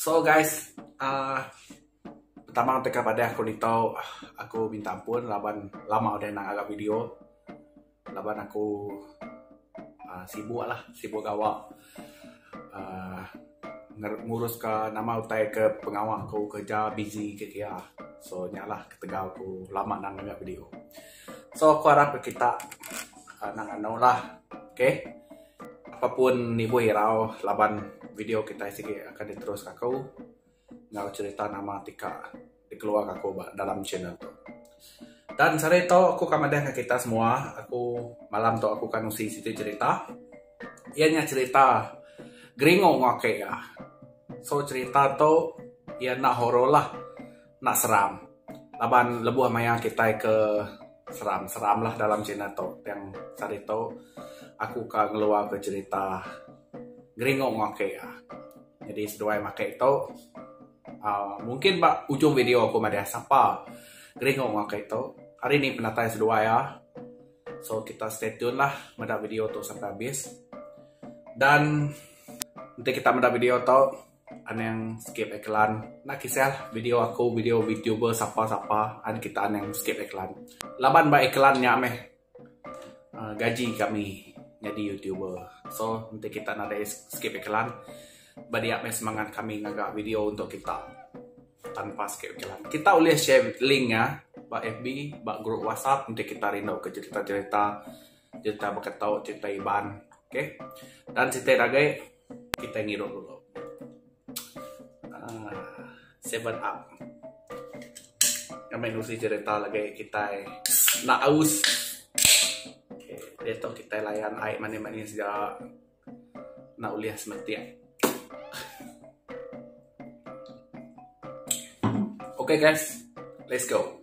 So guys, uh, pertama untuk kau padah aku nitau aku minta ampun laban lama udah nak agak video. Laban aku uh, sibuk lah, sibuk gawa. Uh, ngurus ke nama utai ke pengawa aku kerja busy ke kia. So nyalah ketegal aku lama nak agak video. So aku harap kita uh, nak anau lah. Okay. Apai pun nibuh irau laban video kitai sigi akan diteruska aku enggau cherita nama ti ka dikeluarka aku ba dalam channel tu. Dan sehari tu aku akan madah enggau kitai semua, aku malam tu aku akan nusi siti cherita iya nya cherita geringu enggau aku iya. So cherita tu iya enda horror lah. enda seram laban lebuh maya kitai ke seram seram lah dalam channel tu tang sadi tu aku ka ngeluar ka cerita geringung ake jadi seduai mah ake tu uhh mungkin ba ujung video aku madah sapa geringung ake tu hari ni penatai seduai ah so kita stay tune lah meda video tu sampai habis dan enti kita meda video tu. Anang skip iklan. Enda kisah video aku video VTuber sapa sapa an kita anang skip iklan. Laban ba iklan nya meh uh, gaji kami nyadi YouTuber. So enti kita nadai skip iklan ba dia meh semangat kami ngaga video untuk kita tanpa skip iklan. Kita ulih share link nya ba FB, ba grup WhatsApp enti kita rindu ke cerita-cerita cerita berketuk, cerita Iban. Okay. Dan cerita lagi Kitai ngirup dulu. Aaa seven up. Ngamin usi cerita lagi kitai enda aus. Okay. Dia tu kitai layan ai manis-manis ja. Enda ulih semetik. Okay guys, let's go.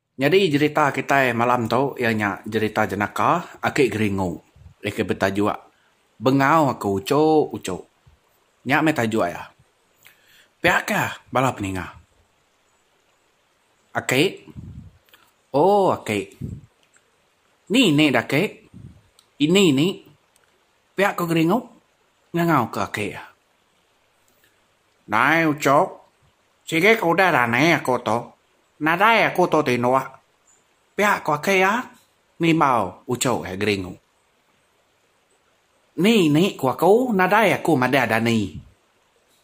Nyadi jerita kitai malam tu iya nya jerita jenaka Aki Geringu iya ke betajuk Bengau Aku Uchu Uchu. Nya meh tajuk iya. Pia ke bala peninga. Aki, oh aki. Ni nih dah aki. Ini ni. Pia ko Geringu ngangau ke aki iya. Nai uchu, Sigi ke udah rani aku tu, nadai aku tu ti indah. Pia ku aki iya ngelimbau uchu iya geringu. Ni ni ku aku nadai aku madah dani.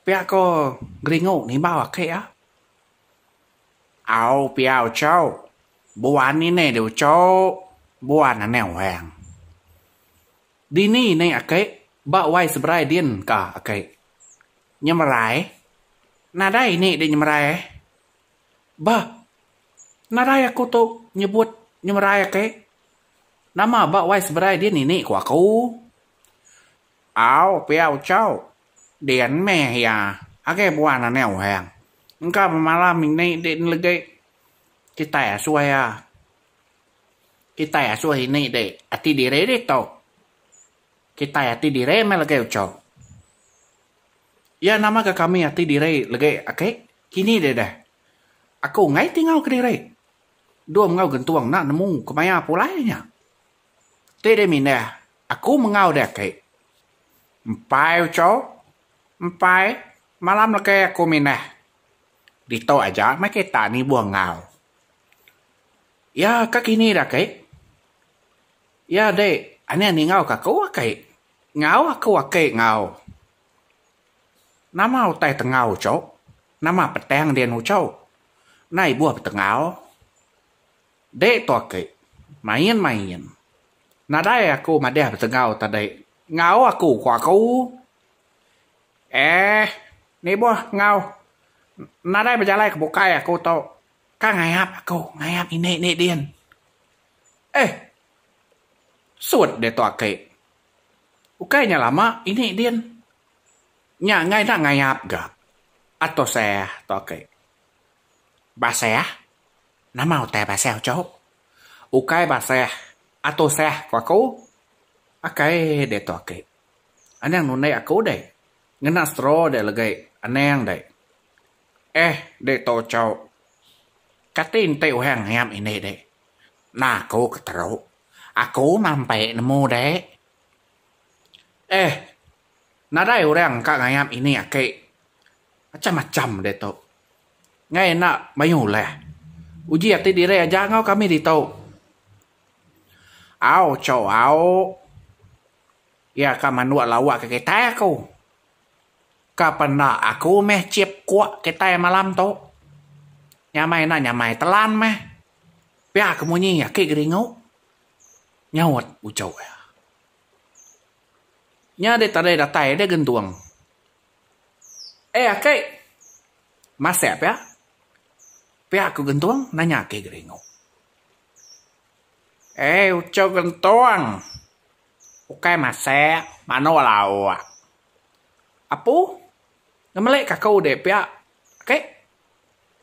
Pia ku geringu ngelimbau aki iya. Au pia uchu, buan ini di uchu, buan ane orang. Dini ni aki ba wai seberai din ka aki. Nyemerai? Nadai ini di nyemerai ai. Bah, nadai aku tu nyebut nyemerai ake. Nama ba wai seberai dia nini ku aku. Au pia uchau, din meh iya agi buan anak orang. Engka bemalam ini di nelegi. Kitai asuh iya. Kitai asuh ini di ati diri ditu. Kitai ati diri meh legai ucho. Iya nama ga kami ati diri legai ake kini deh deh. Aku enggai ti ngau kediri. Dum enggau gentung enda nemu kemaya pulai nya. Ti deh mindah aku mengau deh ake. Empai ucho, empai malam legai aku mindah. Ditu aja meh kita nibuh ngau. Iya ka kini deh ake. Iya adi anih ningau ka aku aki. Ngau aku aki ngau. Nama utai tengau uchu? Nama petang din uchu? Enda ibuh betengau. Di tu aki. Main main. Nadai aku madih betengau tadi. Ngau aku ku aku. Ehh nibuh ngau nadai bejalai ke bukai aku tu. Ka ngayap aku ngayap indi indi din. Eh! Sut diatu aki. Ukai nya lama ini din. Nya enggai enda ngayap ga. Ato seh tu aki. Ba seh? Nama utai ba seh uchu? Ukai ba seh, ato seh ku aku. Akai diatu aki. Anang nundai aku deh. Ngena straw deh legi anang deh. Eh, dek to chok. Kati enti orang ngiap ini, dek? Nah aku ke teru. Aku mampe nemu, dek. Eh, nadai orang ka ngiap ini aki. Macam-macam dek to. Ngai enda mayuh ulah. Uji ati diri aja enggau kami ditu. Au chok au. Iya ka manduk lawa ke kitai aku. Ka penda aku meh chip kuk kitai malam tu. Nyamai enda nyamai telan meh. Pia ke munyi aki geringu, nyaut uchuk iya. Nya deh tadai datai deh gentung. Eh aki! Masek pia? Pia ku gentung nanya aki geringu. Eh uchuk gentung. ukai masek manok laok apu ngemelik ka aku udik pia oke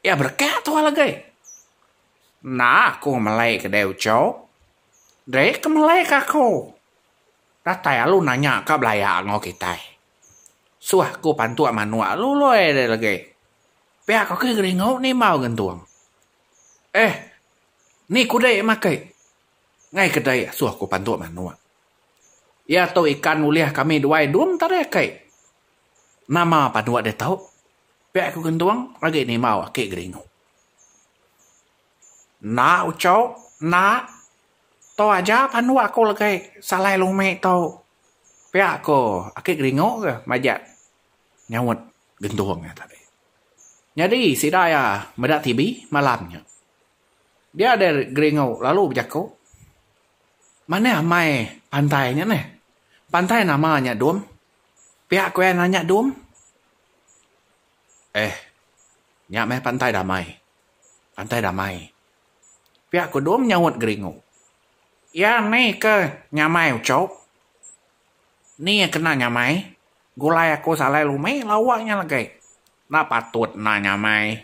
ia berekak tu alagi enda aku ngemelik kedai ucok dei dei kemelik ka aku datai lalu nanya ka belaya ngau kitai suah aku pantuk manok lalu loi dei alagi pia ka aku geringu ni embau gentung eh ni ku dei makai Enggai ke dei asuh aku pantu manuk. Iya tu ikan ulih kami duai dum tadi aki. Nama panuk ditu? Pia ku gentung agi nimau aki geringu. Enda uchu, enda. Tu aja panuk aku legi salai lumi tu. Pia ku aki geringu ke majak nyaut gentung iya tadi. Nyadi sida iya meda TV malam nya. Dia deh Geringu lalu bejaku, Manah amai pantai nya neh? Pantai nama nya Dum? Pia ku iya nanya Dum. Eh, nya meh Pantai Damai. Pantai Damai. Pia ku Dum nyaut Geringu. Iya ni ke nyamai uchup? Ni iya kena nyamai? Gulai aku salai lumi lawa nya legi. Enda patut enda nyamai.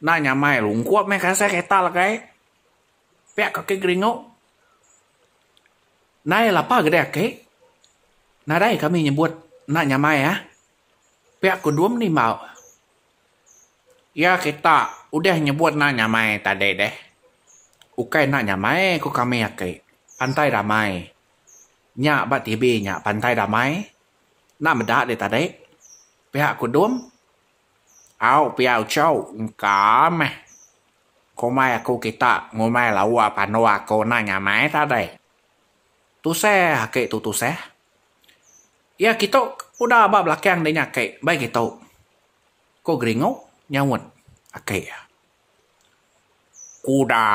Enda nyamai lungkup meh kasai kereta legai. Pia kaki geringu. Nai lapa gede aki. Nadai kami nyebut enda nyamai ah. Pia ku Dum nimbau. Iya kita udah nyebut enda nyamai tadi deh. Ukai enda nyamai ku kami aki. Pantai damai. Nya ba TV nya pantai damai. Enda meda deh tadi. Pia kudung. Au pia uchau. Engka meh. Komai aku kita ngumbai lawa pandu aku enda nyamai tadi. Tusah aki tu tusah. Iya kitu udah ba belakang dinya aki bai kitu. Ko Geringu nyaut aki iya. Kuda?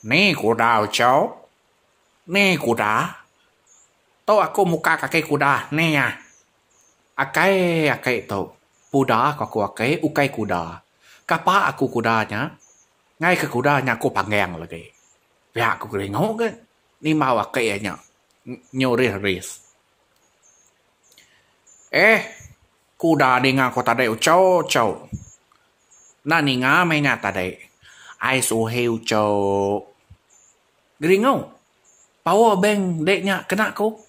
Ni kuda uchauk? Ni kuda? Tu aku muka kaki kuda ne iya. Akai aki tu puda ku aku aki ukai kuda. Kapa aku kuda nya. Ngai ke kuda nya aku panggeng lagi. Pia ku geringu ke nimbau aki iya nya nyurih ris. Eh kuda ninga ku tadi uchu uchu. Enda ninga meh nya tadi. Ai suhi uchu. Geringau. Power bank dek nya kena ku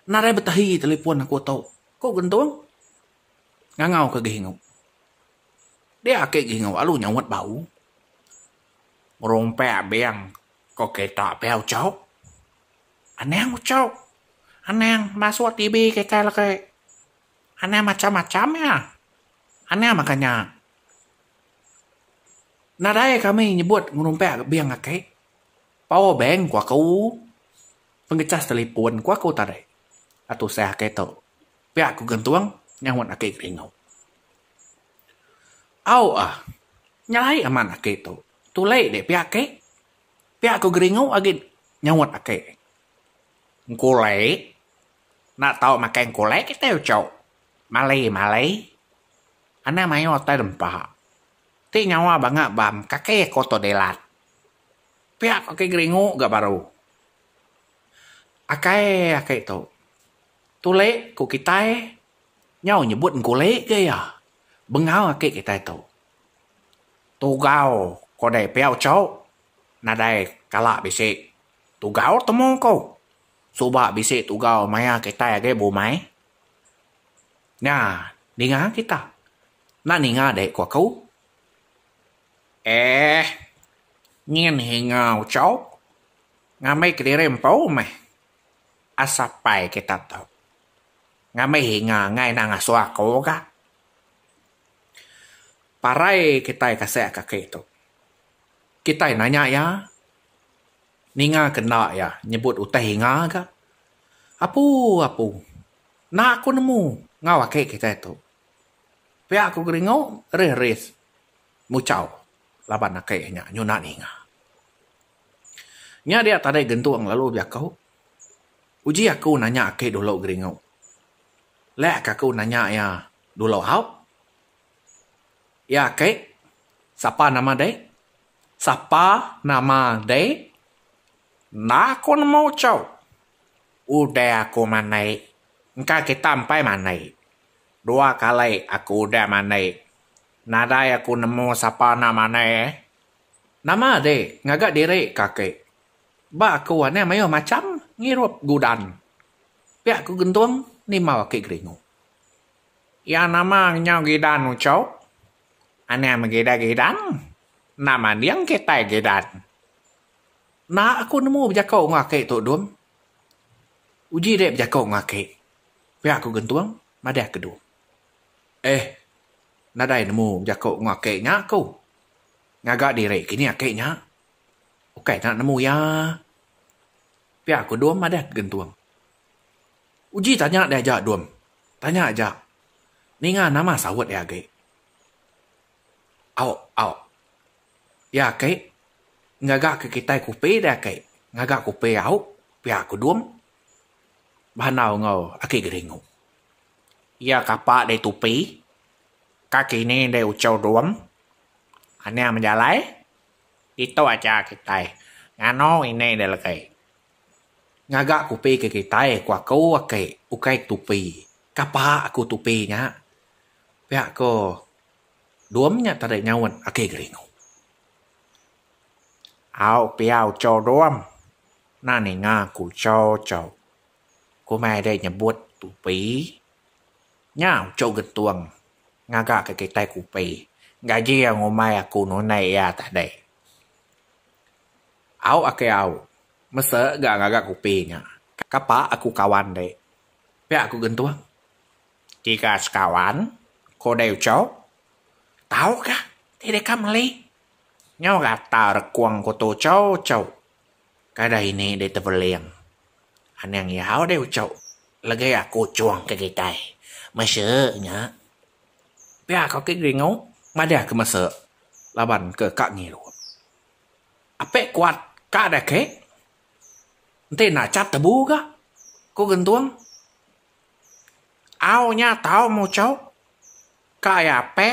nadai betahi telefon aku tu, ku Gentung ngangau ke Gehingu. Dia ake Gehingu lalu nyaut bau. Ngerumpak bank ke kita pia Ucok. Anang Ucok. Anang masuk TV kitai legi. Anang macam-macam iya. Anang maka nya nadai kami nyebut ngerumpak bank ake. Power bank ku aku, pengecas telefon ku aku tadi atu usaha ake tu. Pia ku gentung nyahut ake keringu. Au ah nyelai amat ake tu. Tulei dek pia ake. Pia ku geringu agi nyahut ake. Engkulei enda tau makai engkulei kitai uchu. Malei malei anang mayuh utai dempa. Ti nyawa banga bank kaki aku tu dilat. Pia ko ke geringu ga baru. Akai ake tu. Tulik ko kitai nyau nyebut engkulik ga iya. Bengau ake kitai tu. Tugau ko dei pia ucho nadai kala bisi tugau temu ko. Suba bisi tugau maya kitai agi ba umai. Nya ninga kita. Enda ninga dei ko aku. Eeh. Nyin hinga ucau. Ngambi kediri empu meh. Asapai kita tu. Ngambi hinga angai enda ngasuh aku ga. Parai kitai kasek kaki tu. Kitai nanya iya. Ninga ke enda iya nyebut utai hinga ga. Apu apu. Enda aku nemu enggau aki kitai tu. Pia ku geringu rih-rih. muchau laban ake nya nyuna ninga. Nya dia tadai gentung lalu bejaku uji aku nanya ake dulu geringu leh ka aku nanya iya dulu haup iya ake sapa nama deh sapa nama deh enda aku nemu chau udah aku manai engka kita empai manai. Dua kali aku udah mandi. Nadai aku nemu sapa enda manai eh. Nama adi ngaga diri ke aki. Ba aku anih mayuh macham ngirup gudan. Pia ku Gentung nimba aki Geringu. Iya nama ngenyau gidan uchup. Anih megida gidan enda manding kitai gidan. Enda aku nemu bejaku enggau aki Tok Dum. Uji dek bejaku enggau aki. Pia aku gentung madah kedu. Eh nadai nemu bejaku enggau aki nya aku. Ngaga diri kini aki nya. Ukai tau nemu iya. Pia aku dum madah ke gentung. Uji tanya deh aja dum. Tanya aja. Ninga nama saut iya agi. Au au. Iya aki ngaga ke kitai kupi deh aki. Ngaga kupi au pia aku dum. bandau enggau aki Geringu. Iya kapa dei tupi, kaki ni dei uchau dum, anang bejalai, ditu aja kitai nganu ini dei legi. Ngaga kupi ke kitai ku aku aki ukai tupi, kapa aku tupi nya, pia ko dum nya tadi nyaut aki Geringu. Au pia uco dom. Ena ninga ku uco uco. Ku meh deh nyebut tupi. Nya uco gentung ngaga ke kitai kupi. Gaji iya ngumbai aku nunai iya tadi. Au ake au. Mese ga ngaga kupi nya. Kapa aku kawan di. Pia ku gentung. Tiga sekawan. Ko deh uco. Tau ka ti deka meli. Nyau rata rekung ku tu chou chou. Kada ini deh tebeling. Aning yau deh uchok. Legi aku cung ke kitai. Mese nya. Pia ko ke geringu. Madah ke mese. Laban ke ka ngirup. Ape kuat ka deh ke. Enti enda chat tebu ga. Ku gentung. Au nya tau muchok. Ka iya ape,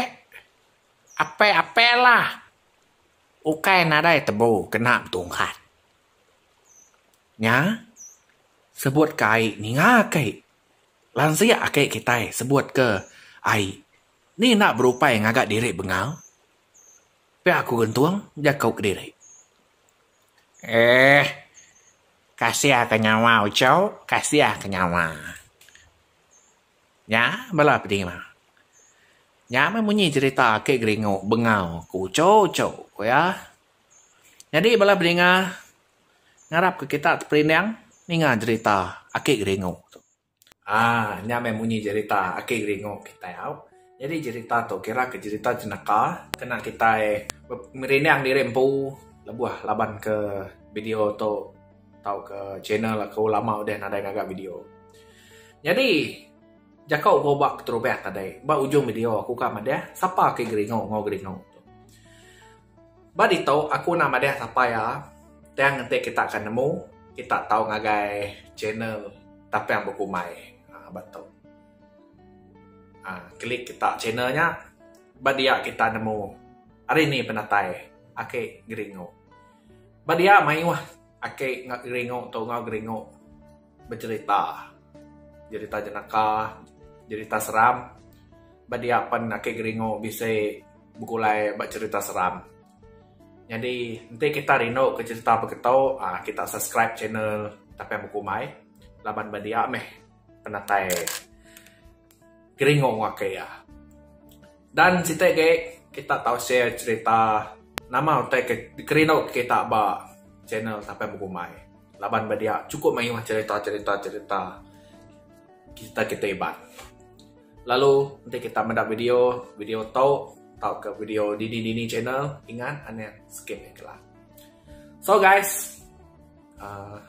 ape-ape lah ukai nadai tebu kena betungkat. Nya sebut ke ai ninga ke lansik ake kitai sebut ke ai ni enda berupai ngaga diri bengal pia ku gentung jaku kediri. Eeh kasiha ke nyawa uchu kasiha ke nyawa. Nya bala penima. Nya meh munyi cerita ake geringu bengau ke ucho ucho ku iya. Nyadi bala bedinga ngarap ke kita ti perindang ninga jerita ake geringu tu. Aaa nya meh munyi jerita ake geringu kitai au. Nyadi jerita tu kira ke jerita jenaka kena kitai merindang diri empu lebuh laban ke video tu. Tauka channel aku lama udah nadai ngaga video. Nyadi jaku ko ba keterubah tadi ba ujung video aku ka madah sapa ke geringu enggau geringu tu. Ba ditu aku enda madah sapa iya tang enti kita ka nemu kita tau ngagai channel Tapang Bekumbai aaa ba tu. Aaa klik kita channel nya ba dia kita nemu ari ni penatai ake geringu. Ba dia mayuh aki enggau geringu tu enggau geringu bejerita. Jerita jenaka, jerita seram. Ba dia pen aki geringu bisi begulai ba jerita seram. Nyadi enti kita rindu ke jerita baka tu uhh kita subscribe channel Tapian Bekumbai laban ba dia meh penatai. Geringo waka iya. Dan siti agi kita tau share cerita nama utai ke kerindu kita ba channel Sampai Begumbai laban ba dia chukup mayuh cerita cerita cerita kita kita iban. Lalu enti kita meda video video tu tauka video dini dini channel ingat anih skip iklan. So guys uhh.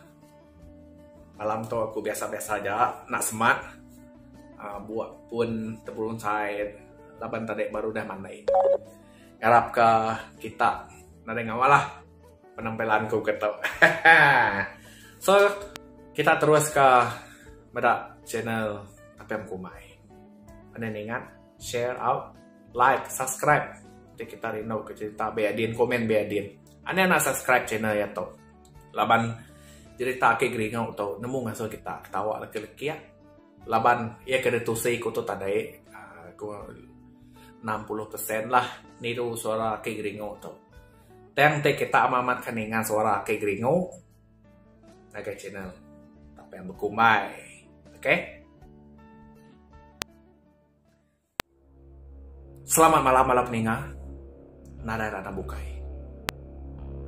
Malam tu aku biasa-biasa aja enda semak. Bua pun tepulun side laban tadi baru udah mandi. Ngarap ka kita nadai ngawa lah penampilan ku ke tu. So kita terus ka meda channel Apm Kumai. Pandai ninga share out like subscribe. Ti kita rindu ke cerita be adin komen be adin. Ane enda subscribe channel iya tu. Laban jerita ake geringau tu nemu ngasuh kita ketawa leka lekik laban iya ke ditusi ku tu tadai uhh ku enam puluh persen lah niru suara ake geringu tu. Tang ti kita amat amat ke ninga suara ake geringu ngagai channel Tapeh Bekumbai. Okay. Selamat malam bala peninga. Nadai randam bukai.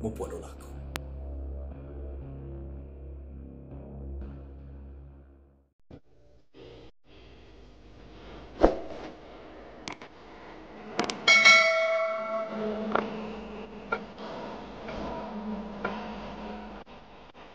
Mupuk dulu aku.